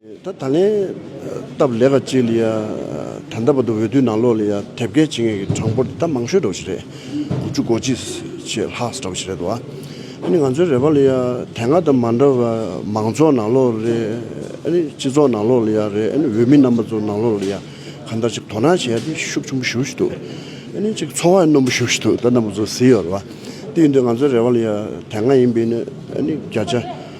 ད་ད་ལན་སྟབས་ལེགས་ཀ་ཅིག་ལ་ཡ་ད་འདའ་བར་དུ་འོས་དུས་ནང་ལོགས་ལ་ཡ་དེབ་སྐད་བྱེད་མཁན་གྱི་གྲངས་འབོར་དེ་ད་མང་ཤོས་འགྲོ་བ་ཞིག་རེད། དགུ་བཅུ་གོ་གཅིག་ཕྱེད་ལྷག་ཟེར་བ་ཞིག་རེད་དོ། ཨ་ནི་ང་ཚོའི་རེ་བ་ལ་ཡ་དེ་སྔ་དང་མ་འདྲ་བར་མང་ཚོགས་ནང་ལོགས་ལ་རེད་ཨ་ནི་སྤྱི་ཚོགས་ནང་ལོགས་ལ་ཡ་རེད་ཨ་ནི་འོས་མི་རྣམ་པ་ཚོ་ནང་ལོགས་ལ་ཡ་གང་འདྲ་ཅིག་དོ་སྣང་བྱེད་ཡ་དེ་ཤུགས་ཆེན་པོ་ཞུགས་བཞིན་འདུག་ཨ་ནི་ཅིག་འཚོ་བ་ཡང་རྣོན་པོ་ཞུགས་བཞིན་འདུག་ད་འདའ་མོ་ཚོ་བཟི་ཡོད་རེད་བ། དེ་ཡིན་དུས་ང་ཚོའི་རེ་བ་ལ་ཡ་དེ་སྔ་ཡིན་པའི་ནི་ཨ་ནི་བརྒྱ་ཆ་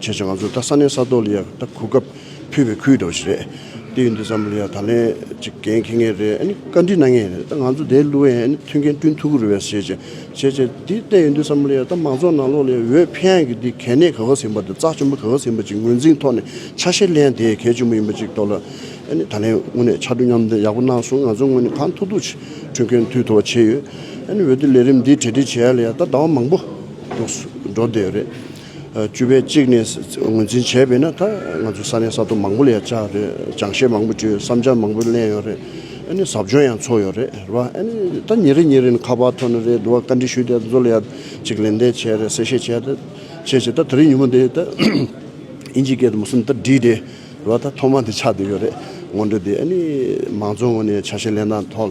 བྱས་བྱས་ང་ཚོ་ད་ས་གནས་ས་ཐོག་ལ་ཡང་ད་གོ་སྐབས་ཕུལ་བའི་ཁུལ་དོགས་ཞིག་རེད། དེ་ཡིན་དུས་ཙམ་ལ་ཡང་ད་ལན་ཅིག་འགན་འཁེལ་ངེས་རེད་ཨ་ནི་བཀའ་འདྲི་གནང་ངེས་རེད་ད་ང་ཚོ་དེ་བསླུ་བའི་ཨ་ནི་མཐུན་རྐྱེན་བསྐྲུན་ཐུབ་ཀི་རུ་བས་བྱས་བྱས་བྱས་བྱས་དེ་ལྟ་ཡིན་དུས་ཙམ་ལ་ཡང་ད་མང་ཚོགས་ནང་ལོགས་ལ་ཡང་འོས་འཕེན་ཡང་གི་དེ་གལ་གནད་ག་ག་ཟིན་པ་དང་རྩ་ཆེན་པོ་ག་ག་ཟིན་པ་ཅིག་ངོས་འཛིན་ཐོག་ནས་ཆ་ཤས་ལེན་དེ་གལ་ཆེན་པོ་ཡིན་པ་ཅིག་རྟོགས་ལ་ཨ་ནི་ད་ལན་དངོས་གནས་ཕྱར་གྲུ་མཉམ་འདེགས་ཡག་པོ་གནང་སོང་ང་ཚོ་དངོས་གནས་གང་ཐུག་ཐུག་ཅིག་འཕྲུལ་མཁན་མཐུད་ཐུབ་པ་བྱས་ཡོད་ཨ་ནི་འོས་བསྡུ་ལས་རིམ་འདི་གྲལ་སྒྲིག་བྱས་ཡ་ལ་ཡང་ད་ཟླ་བ་མང་པོ་འགྲོ་བསྡད་ཡོད་རེད། བཅུ་པའི་གཅིག་ནས་ངོས་འཛིན་བྱས་པས་ན་ད་ང་ཚོ་ས་གནས་ས་ཐོ་མང་པོ་ལ་ཡང་བཅར་རེད་སྦྱང་བཤད་མང་པོ་བྲིས་བསམ་འཆར་མང་པོ་གླན་ཡོད་རེད་ཨཱ་ནི་ཟབ་སྦྱོང་ཡང་ཚོགས་ཡོད་རེད་རེད་བ་ཨཱ་ནི་ད་ཉིན་རེ་ཉིན་རེ་ནི་ཁ་པར་ཐོག་ནས་རེད་འདུག་བ་བཀའ་འདྲི་ཞུས་དེ་ཚོ་ལ་ཡང་ཅིག་ལན་འདེབས་བྱས་རེད་གསལ་བཤད་བྱས་ཏེ་བྱས་བྱས་ད་དེ་རིང་ཉིན་མོ་འདི་ད་ཨིན་ཇིའི་སྐད་དུ་མུ་སུམ་ད་བྲིས་ཏེ་རེད་བ་ད་ཐོག་མ་འདི་ཆགས་བསྡད་ཡོད་རེད་སྔོན་འགྲོ་འདི་ཨཱ་ནི་མང་གཙོ་ངོས་ནས་བྱ་བྱེད་ལས་སྣ་ཐོག་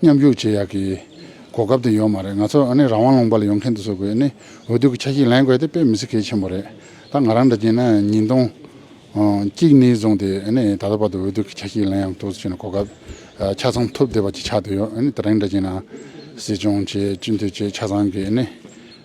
མཉམ་ཞུགས་བྱེད་ཡག་གི་གོ་སྐབས་དེ་ཡོད་མ་རེད་ང་ཚོ་ཨ་ནི་རང་དབང་ལུང་པ་ལ་ཡོང་མཁན་དེ་ཚོ་དགོས་ནི་འོས་བསྡུ་གི་ཆ་ཤིག་ལེན་དགོས་དེ་དཔེ་མི་སྲིད་གལ་ཆེན་པོ་རེད་ད་ང་རང་འདྲ་གྱིས་ན་ཉིན་སྟོང། གཅིག་གཉིས་བཟུང་དེ་ཨ་ནི་ད་ལྟ་བར་དུ་འོས་བསྡུ་གི་ཆ་ཤིག་ལེན་ཡང་ཐུགས་བརྩེ་ཆེ་ན་གོ་སྐབས་ཆ་ཚང་ཐུབ་བསྡད་པ་གཅིག་ཆགས་དུ་ཡོད་ཨ་ནི་ད་རིང་འདྲ་གྱིས་ན་སྲིད་སྐྱོང་བྱས་སྤྱི་འཐུས་བྱས་ཆ་ཚང་གིས་ཨ་ནི།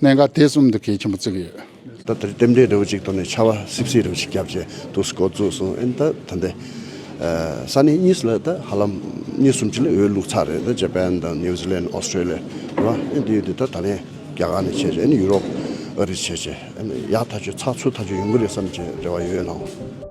གནད་འགག་དེ་གསུམ་འདི་གལ་ཆེན་པོ་བརྩི་གི་ཡོད། ད་དེར་རྟེན་འབྲེལ་རེ་བོ་ཅིག་དོར་ནས་ཆར་བ་སིབ་སིབ་རེ་བོ་ཅིག་བརྒྱབ་རྗེས་དུ་སྐོར་བཙུགས་སོང་ཨེ་འདུག་ད་ལྟའི་ས་གནས་གཉིས་སུ་ལ་ད་ཧ་ལམ་གཉིས་གསུམ་ཅི་ལ་འོས་ལུགས་ཚར་རེད་ད་ཇེ་པན་དང་ནིའུ་ཟི་ལན་ཨོ་སི་ཀྲེ་ལི་ཡ་རེད་པ་ཨེ་འདི་ཡོད་འདི་ད་ད་ལན་རྒྱ་གར་ནས་བྱས་རྗེས་ཨེ་ནི་ཡུ་རོབ་ཨ་རིས་བྱས་རྗེས་ཨེ་ནི་ཡག་ཐག་ཆོད་ཚགས་ཚུད་ཐག་ཆོད་ཡོང་གི་རེད་བསམ་བྱས་རེ་བ་ཡོད་ནའོ།